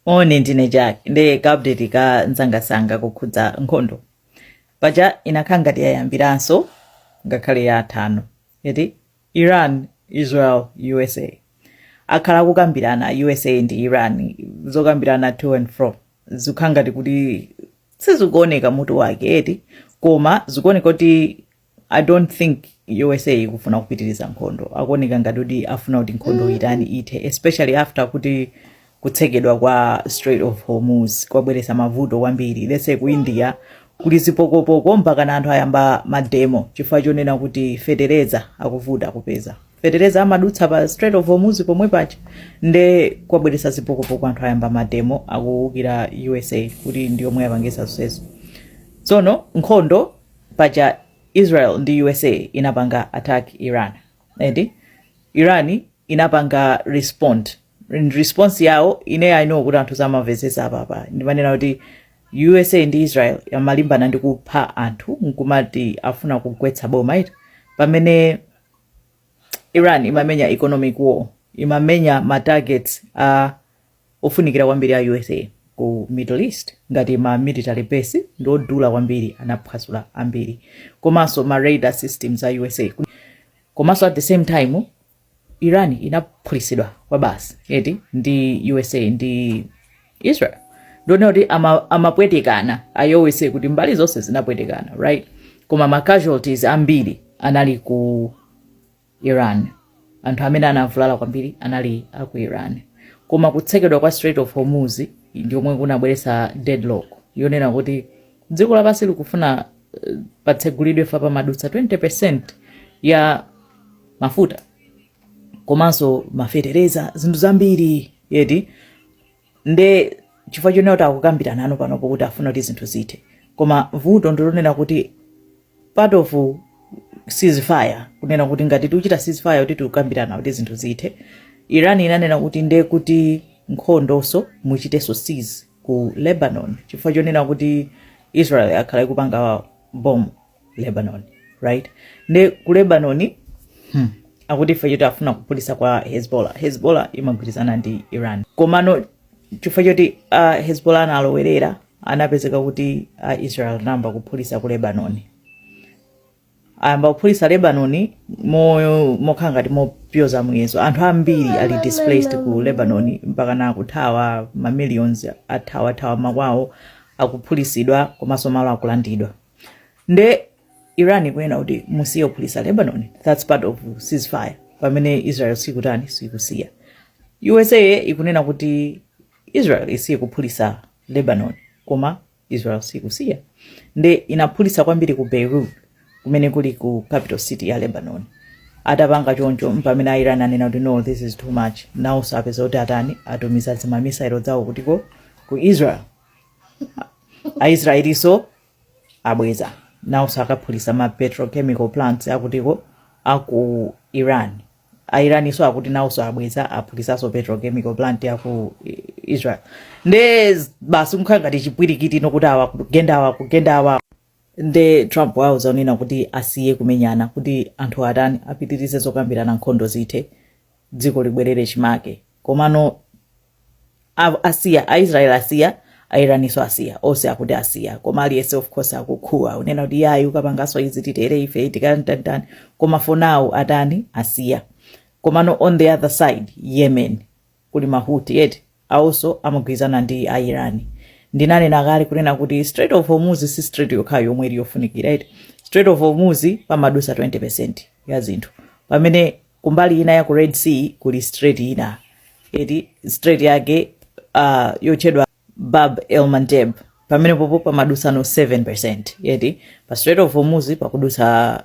moni ndine jack ndi kaupdate ka nsangasanga kukhudza nkhondo paja inakhala ngati yayambiranso ngakhale yatani eti iran israel usa akhala akukambirana usa ndi iran zokambirana to and fro zikukhala ngati kuti sizikuoneka mutu wake eti koma zikuoneka kuti i don't think usa ikufuna kupitiriza nkhondo akuoneka ngati kuti afuna kuti nkhondo itani ithe especially after kuti kutsekedwa kwa strait of hormuz kwabweretsa mavuto kwambiri like ku india kuli zipokopoko mpaka anthu ayamba mademo chifukwa chonena kuti fetereza akuvuta kupeza fetereza amadutsa pa strait of hormuz pomwe paja nde kwabweretsa zipokopoko anthu ayamba mademo akuwukira usa kuti ndiyomwe yapangisa zonsezo tsono nkhondo paja Israel ndi usa inapanga attack Iran eti Iran inapanga respond And response yawo ine i know kuti anthu samamvetsetsa apapa ndimanena kuti usa ndi israel amalimbana ndi kupha anthu nkumati afuna kugwetsa boma eti pamene iran imamenya economic war imamenya ma targets a ofunikira kwambiri a usa ku middle east ngati ma military base ndi odula kwambiri anaphwasula ambiri komanso ma radar systems a usa komanso at the same time iran inaphulitsidwa kwabasi eti ndi usa ndi israel ndinene kuti ama- amapwetekana awowose kuti mbali zonse zinapwetekana right koma ma casualties ambiri anali ku Iran. Anthu amene anavulala kwambiri anali a ku Iran. Koma kutsekedwa kwa Strait of Hormuz ndi komwe kunabweretsa deadlock yonena kuti dziko lapansi likufuna patsegulidwe fa pamadutsa 20% ya mafuta komanso mafetereza zinthu zambiri eti Nde chifukwa chonena kuti akukambirana nawo panopo kuti afuna kuti zinthu zithe koma vuto ndilonena kuti part of ceasefire kunena kuti ngati tikuchita ceasefire kuti tikukambirana kuti zinthu zithe iran inanena kuti nde kuti nkhondoso muchitenso cease ku lebanon chifukwa chonena kuti israel yakhala ikupanga bomb lebanon right nde ku lebanon akuti chifukwa choti afuna kuphulisa ka hezbollah hezbollah imagwirizana ndi iran komano chifukwa choti hezbollah analowerera anapezeka kuti israel anayamba kuphulisa ku lebanon ayamba kuphulisa lebanon mokhala ngati mopyoza muyezo anthu ambiri ali displaced ku lebanon mpakana kuthawa mamillions athawathawa makwawo akuphulisidwa komanso malo akulandidwa nde iran ikunena kuti musiye kuphulitsa lebanon thats part of ceasefire pamene israel sikutani sikusiya usa ikunena kuti israel isiye kuphulitsa lebanon koma israel sikusiya nde inaphulitsa kwambiri ku beirut kumene kuli ku capital city ya lebanon atapanga choncho mpamene airani anena kuti no this is too much nawonso apeza kuti atani atumiza zimamisairo zawo kutiko ku israel aisraelinso abweza nawonso akaphulisa ma petrochemical plants akutiko aku iran airaniso akuti nawonso abweza aphulisanso petrochemical plant yaku I- israel nde z- basi kukhala ngati chipwirikiti ino kuti awa kugenda awa kugenda awa nde trump wauza onena kuti asiye kumenyana kuti anthu atani apitirize zokambirana nkhondo zithe dziko libwerere chimake komano a- asiya aisrael asiya airaniso asiya onse akuti asiya koma aliyense of course akukhuwa kunena kuti yayi ukapangaso izi titere ife tikantanitani koma for now atani asiya komano on the other side yemen kuli ma houthi eti, awonso amagwirizana ndi a Iran. Ndinanena kale kunena kuti Strait of Hormuz si strait yokhayo yomwe ili yofunikira eti. Strait of Hormuz pamadutsa 20% ya zinthu. Pamene kumbali ina ya ku Red Sea kuli strait ina eti strait yake ah, yotchedwa Bab el Mandeb. Pamenepopo pamadutsano 7% eti pa Strait of Hormuz pakudutsa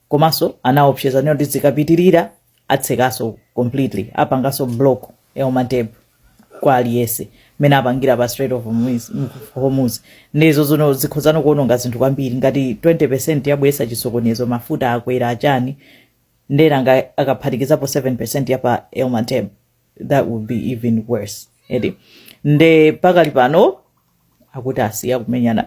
komanso anaopseza kunena kuti zikapitirira atsekaso completely apangaso block el mandeb kwa aliyese mene apangira pa strait of hormuz nde izo zino zikhozano kuononga zinthu kwambiri ngati 20 percent yabwesa chisokonezo mafuta akwera achani nde nanga akaphatikizapo 7 percent yapa el mandeb that would be even worse eti nde pakali pano akuti asiya kumenyana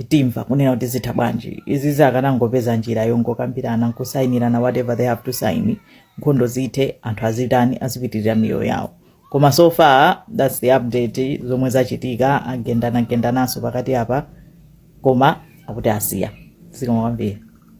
timva kunena kuti zitha bwanji izi zakanangopeza njira yongokambirana nkusayinirana whatever they have to sign nkhondo zithe anthu azitani azipitirira miyoyo yawo koma so far thats the update zomwe zachitika agendanagendananso pakati apa koma akuti asiya zikomo kwambiri